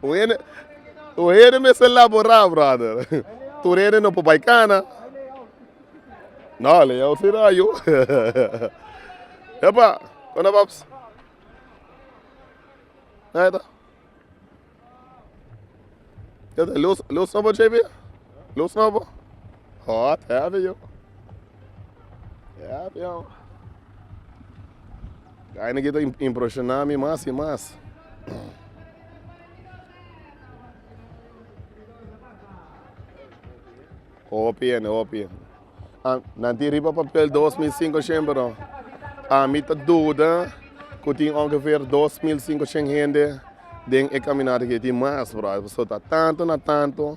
Tur hende mester labora brother tur hende no por bay cana no leyó si no ayo epa conda paps nah ita luz no bo JB luz no bo. Hot heavy yo. Heavy yo. Ay niki ta impresiona mi mas y mas. Hopi hende hopi. Ah, nan tin riba papel 2500 A mi ta duda ku tin ongeveer 2500 hende den e kaminata aki tin mas, brother. Pasobra ta tanto na tanto.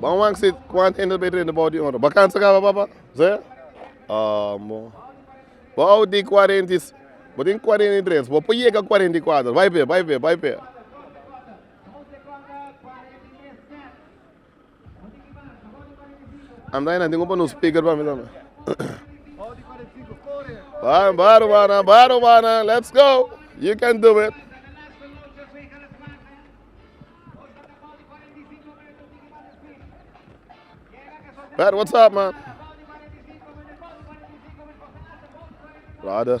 Bam wak si kuantu hende ta bay renta bou di un ora. Bakansa kaba papa? Zea? Ah bon. Bou tin cuarenta y se bo tin cuarenta y tres bo por yega cuarenta y cuatro bay p'e bay p'e bay p'e. Andaina tengo pa no speaker pa mi tambe. Baro, baro, bana, baro, bana. Let's go. You can do it. Pat, what's up, man? Brother,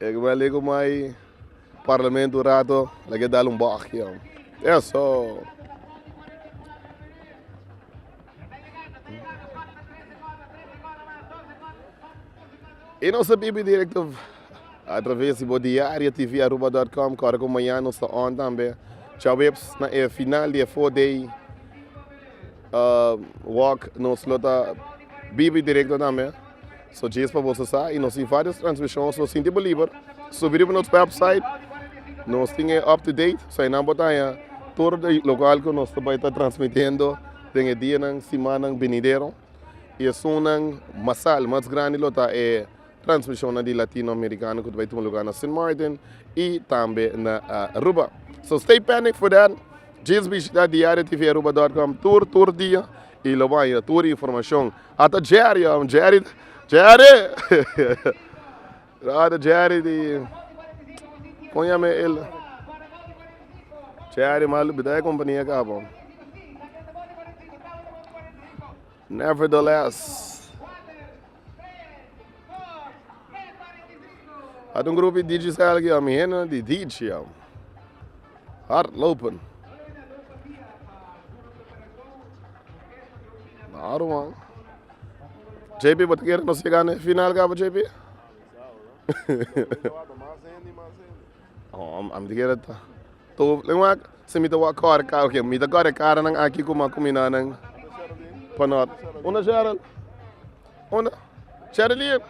E ke bali ku mai parlamento un rato la ke dal un bòghi ho. Eso i no sa bibi direkto atraves di bo diario TV Aruba dòt kòm kòrda ku mañana nos ta on tambe chaveps na e final di e four day wòk nos lo ta bibi direkto tambe. So djes pa boso sa y nos tin varios transmisions nos tin dibeliber subi riba nos website nos tin e up to date so enan por taña tur di locual cu nos ta bay ta transmitiendo den e dianan simannan binidero y esunnan masal mas grandi lo ta e transmisionnan di Latino Americano cu ta bay tuma lugar na Sint Maarten y tambe na Aruba so stay pending for that djes bishita diariotv aruba dot com tur tur dia y lo baña tur informacion. Ata Jerry hombre Jerry Jerry brother Jerry di con yame el Jerry mas lubida e compania caba hombre never the less ata un grupo di digicel aki hombre mi hende di dici hombre. Hardlopen. Daarom man. JP, bo ta kere nos yega na e final kaba, JP? oh, a mi ta kere ta. To, leng wak, se mi ta wak kore kara, ok, mi ta kore kara nan aki kuma kumina nan. Panot. Una Cheryl? Una? Cheryl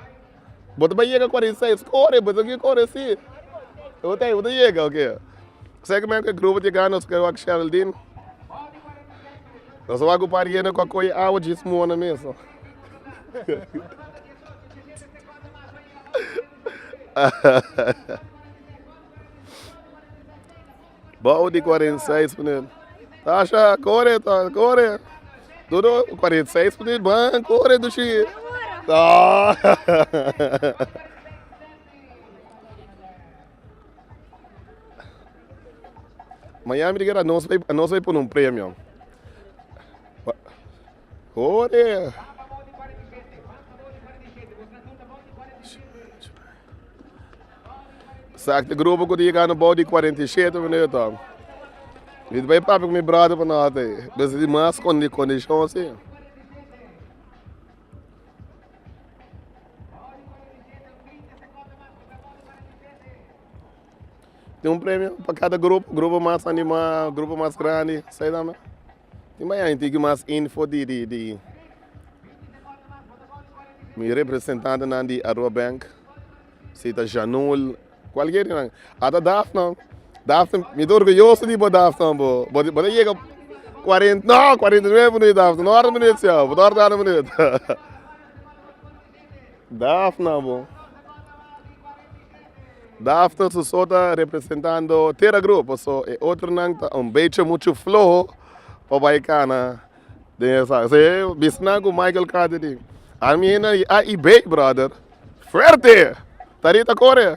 Bo ta bay yega cuarenta y seis core bo esaki core si bo ta bo ta yega oke esaki men cu e grupo ta yega nos ta wak sheldin nos ta wak un par yende cu a coye awa djis mona mesun Bou di cuarenta y seis p'n'el Tasha core Tasha core Todo cuarenta y seis p'n'el ban core dushi Miami di guera anos anos a pono un premio. Ore Sak ta grupo ku ta yegando bou di kuarenta i shete minuut tor. Mi ta bay papia ku mi brother pa nota e bes di mas kondi kondishon si. Tin un premio pa kada grupo, grupo mas anima, grupo mas grandi, sa e tambe. Tin baya hende aki mas info di di di mi representantenan di Aruba Bank si ta Janul kualkier di nan ata Daphne Daphne mi ta orguyoso di bo Daphne bo bo ta yega kuarenta no kuarenta i nuebe minut Daphne no a hora minut cier bo ta hora tanda minut. Daaf na bo. Daaf ta su so ta representando Tera Group paso e otronan ta un bechi muchu floho pa bai cana den e sa. Esei bisnan cu Michael Carter tin. Al mi hende di A y B brother fuerte ta rita core.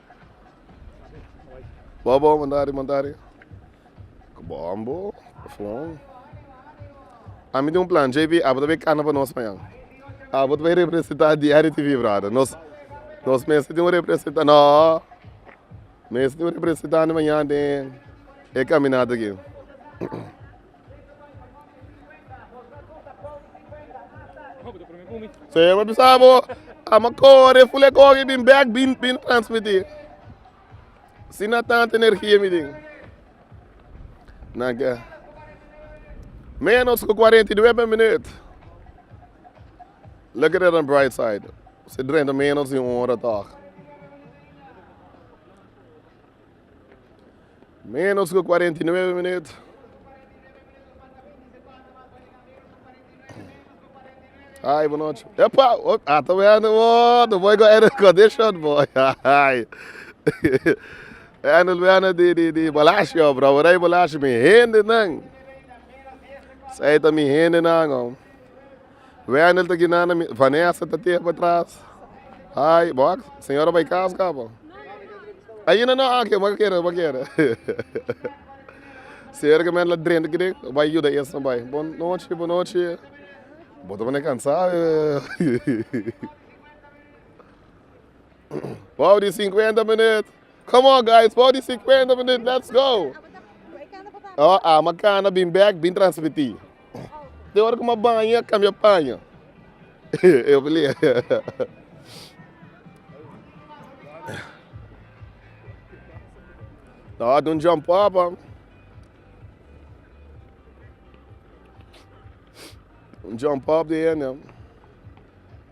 Bo bo mandari mandari ku bo an bo pafon a mi tin un plan JB abo ta bin kana pa nos mañan abo ta bin representa diario TV brother nos nos mester tin un representante no mester tin un representante mañan den e caminata aki. Sebo bisa bo, ama kore fule kogi bin bek bin bin transmitir. Si na tanta energia mi ding. Naga. Menos ku 49 minut. Look at it on bright side. Se drenta menos di un hora toch. Menos cu cuarenta y nueve minüt. Ay, bu noche. Epa, oh, ah, tô vendo, oh, do boy go air condition, boy. Ay. Handle vendo di, di, di balashi, oh, bro, rei balashi, mi hende nan. Sai ta mi hende nan, oh. Wendel ta gina na mi Vanessa ta tehe pa tras ai bo ak señora bay kas ka bo ainda no aki bo ka kere bo kere serke men la drenta aki den bay yuda esnan bay bon nochi bon nochi bo ta kune cansa paw di cincuenta minüt come on guys paw di cincuenta minüt lets go o ama cana bin bek bin transmiti. Den ora ku mi a baña kambia paño. Lo a dun jump up a. Un jump up di hende.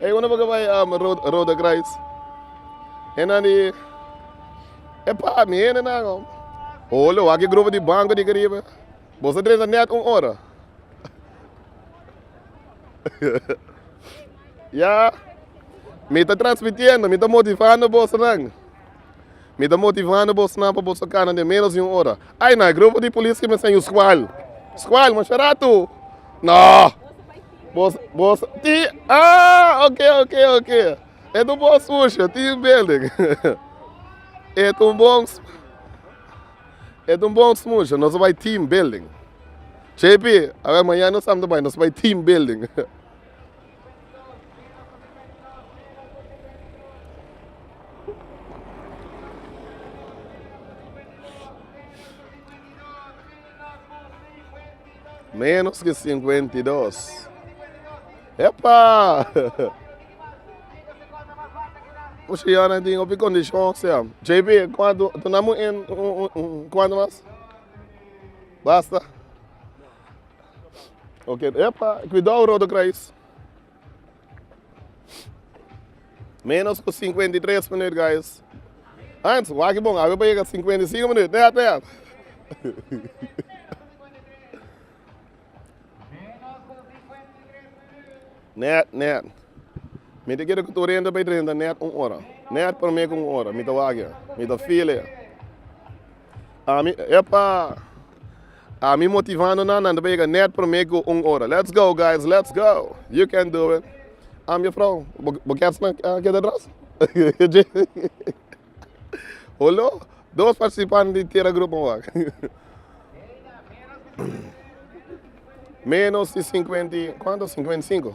Ey unu boca bay Rode Kruis. Enan di e pa mi hende nan ho. Oh lo wak e grupo di banco di Caribe. Bo sa drenta net un ora. ya mi ta transmitiendo, mi ta motivando bosonan. Mi ta motivando bosnan pa boso kana den menos di un ora. Ay na e grupo di polis ki mester yu skual. Skual masha ratu. No! Bos, bos, tin, ah, ok, ok, ok. E ta un bon sfursho, tin building. E ta un bon, e ta un bon sfursho. Nos a bai tin building. JP, a wer, mañana nos tambe ta bai, nos bai tin building. Menos ke sinkuenta i dos. Epa! Pushi yon a tin hopi kondishon se. JP, kuantu tuna mu en kuantu mas? Basta? Oke epa kuidou Rodo Krais. Menos ku sinkuenta i tres minuut guys. Hans waki bon awe pa yega sinkuenta i sinku minuut tea tea. Net net. Mi te kere ku tur entra pa i trenta net un ora. Net prome ku un ora mi ta waki mi ta file. Ami, Epa! Ami motivando nan, nan ta bega nèt promé ku un ora. Let's go, guys! Let's go! You can do it! Am yo frou, bo kèr sna a keda atras? Hullo, dos partisipante di teragrupo un wak. Menos di sinkuenta i, kuantu? Sinkuenta i sinku.